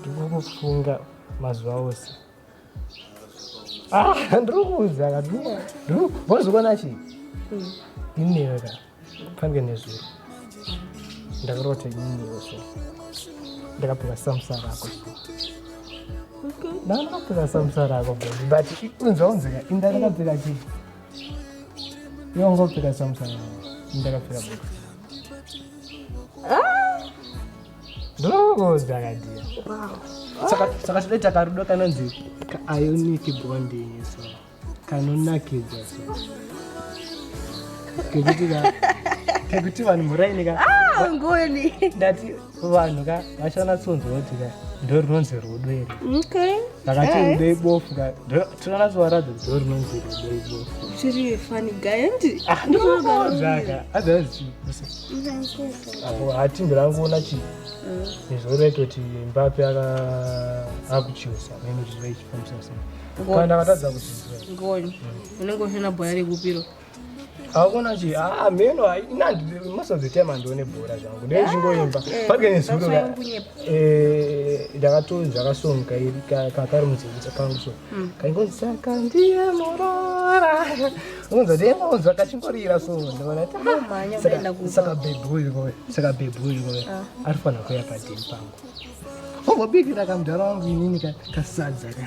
ndikukufunga mazuva ose ah, ndiri kuudza kaozokona chi inewe ka pange nezuro ndakarota ininewe so ndakapika samusa rako ndandakapika samusa rako but unza unzika indakakapika chii yongopika samusa rako ndakapika boo saka todaita karudo kanonzi kaionic bonding so kanonakidza so kekuti ka kekuti vanhu muraini ka ah, ngoni ndati vanhu ka vachanatsonzwa kuti ka ndo runonzi rudo iri vakati rudo ibofu ka Tinoona zviwaradza dzoro rinonzi rudo Chiri funny guy andi. Ah, ndinoona zvaka. Adza zvichikusa. Apo hati ndirangoona chi. Nezvoro raito kuti Mbappe aka akuchiusa mimi zviro ichifambisa sei. Kana akatadza kuchiusa. Ngoni. Unenge usina bhoya rekupiro. hakuna chi ah, meno most of the time andione bhora zvangu dai ndichingoimba pake nezuro ndakatonzwa kasonga iri kakari mudzivudza kangu so hmm. kaingonzi saka ndiye murora unza ndeingonzwa kachingorira so ndivona saka bhebhi uyu koe saka bhebhi uyu koe ah. ari fanira kuya padheni pangu ombobikira kamudhara wangu inini kasadza ka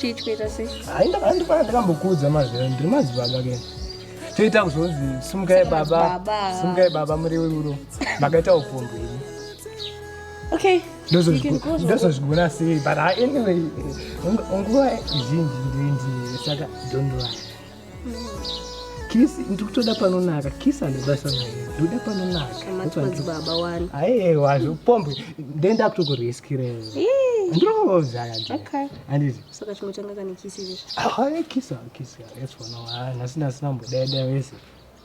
chii chikuita sei hayi ndakandifana ndakambokuudza mazvira ndiri madzibaba ke toita kuzonzi simukai baba simukai baba muriwiruro makaita upombwe ini okay ndozozvigona sei but anyway nguva zhinji ndindiye saka don't worry kisi ndikutoda panonaka kisi anobasa naye ndoda panonakababa wani aiwa zvipombe ndenda kutokureskireo ndoozaandizisakachimotanga kane kisi kisi kisi yasona nhasi nasina mbodeda wese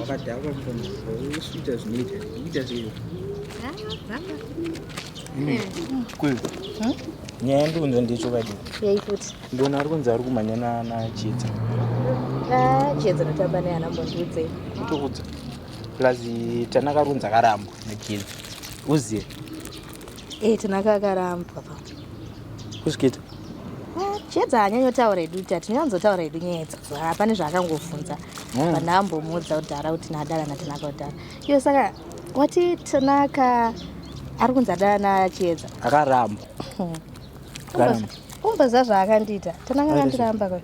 wakadhakwa mukoma usvita zvinoita kuita zveiyo nyaya yandikunzwa ndicho kadi ndona ari kunzi ari kumhanya nachiedza nachiedza notamba neana mbondiudze ndokudza plus tanakarunza karambwa nachiedza uzive Eh, tinaka akarambwa pa. Kusvikita. Ah, Chiedza anyanyotaura hedu kuti atinyanzotaura hedu nyaya idzi. Ah, Pane zvaakangofunza. Mm. Pana ambomuudza kudhara kuti nadara natinaka kudhara. Iyo saka wati tinaka ari kunzi adara nachiedza. Akaramba. Hmm. Akaramba. Umboziva zvaakandiita. Tinaka Aita akandiramba kwa.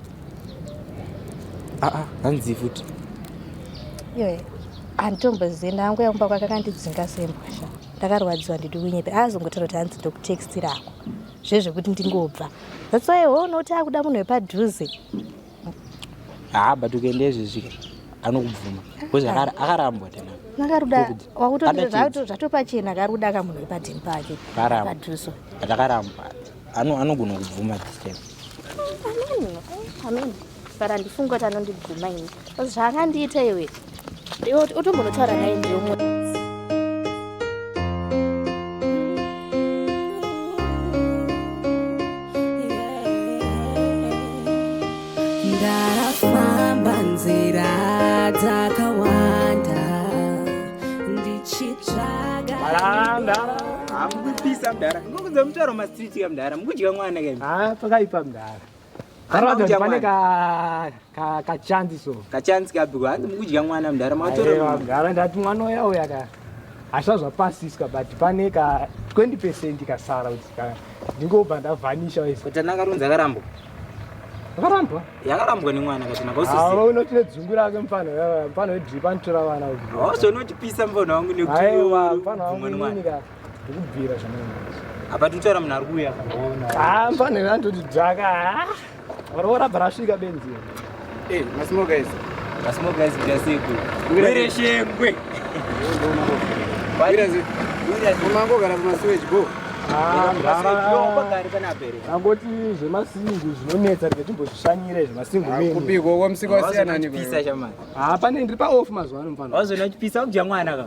Ah ah, hanzi futi. Iyo. Anditombozivi ndangu yakumba kwake akandidzinga sembwa sha. ndakarwadziwa ndidi kunyepe aazongotaura kuti hanzi ndokutextira ako zvezvekuti ndingobva that's why ho unoti akuda munhu wepadhuze haa but ukaenda izvezvi anokubvuma bcause akarambwa tena akaruda wakutoita zvatopachena akaruda ka munhu wepadhini pake padhuso but akarambwa anogona kubvuma this time amen amen but handifungi kuti anondiguma ini bcause zvaangandiita iwe iwe utombonotaura naye ndiomwe ndafamba nzira dzakawanda ndichitsvaga hamukupisa mdara ngokuza mutaro mastriti kamdara mukudya mwana kaipa mdara pane kachanzi so kachanzi kapi hanzi mukudya mwana mudhara matorogara ndati mwana uya uya ka hazva zvapasiswa but pane ka 20 percent kasara kuti ka ndingobva ndavhanisha waisotana karonza karambo akarambwa yakarambwa nemwana katinakausisiawa unoti nedzungu rake mfana mfana wedripa anotora vana kuti hauzonotipisa mfana wangu nekuti mfana wangu ndikubvira apa tutaura munhu ari kuuya ah, mfana andoti dzvaka ah, varoora bva rasvika benzi eh, masimo guys masimo guys kuchasiku wire shengwe umangogara kumasiweji bo angoti zvemasingu zvinonetsa rike timbozvishanyire zvemasingu kupiko wamusika wasiyanani haa pane ndiri paof mazuva ano mfana wazoona chipisa kudya mwana ka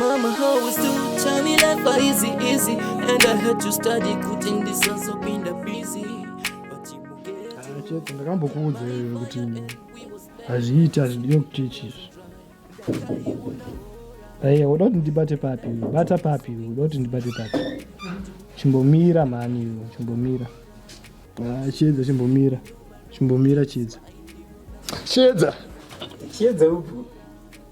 Mama always do tell me life are easy easy and I had to study kuti ndisazopinda busy but you get Ah, chete ndakambokuudza iwe kuti hazviiti hazvidiwe kuti chizvi aiya uda kuti ndibate papi iwe bata papi iwe uda kuti ndibate papi chimbomira mhani iwe chimbomira Ah, chiedza chimbomira chimbomira chiedza chiedza chiedza upo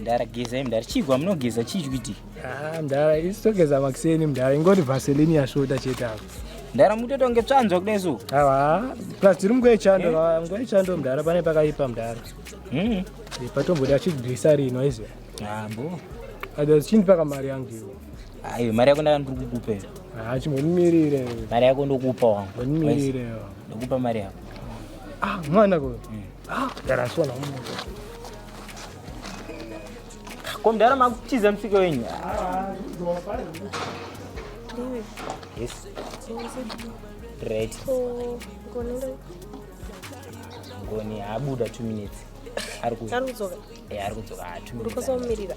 mdara gezai mdara chii kwamunogeza chii chikuiti ah, mdara isi togeza makiseni mdara ingoti vaselini yasvota chete avo mdara mutotonge tsvanzwa kudai so awa plus tiri munguva yechando eh? nguva yechando mdara pane pakaipa mdara hmm. eh, patomboda chigwisa rino izi ambo ah, adas chini paka mari yangu iwo aiwe mari yako ndakandiri kukupa iyo haa ah, chimbonimirire mari yako ndokupa wangu ndonimirire ndokupa mari yako ah mwana ko hmm. Ko mdara makutiza msika wenyu. Yes. Right. Ngoni abuda 2 minutes. Ari kudzoka. Eh, ari kudzoka 2 ah, minutes. Ndikosomirira.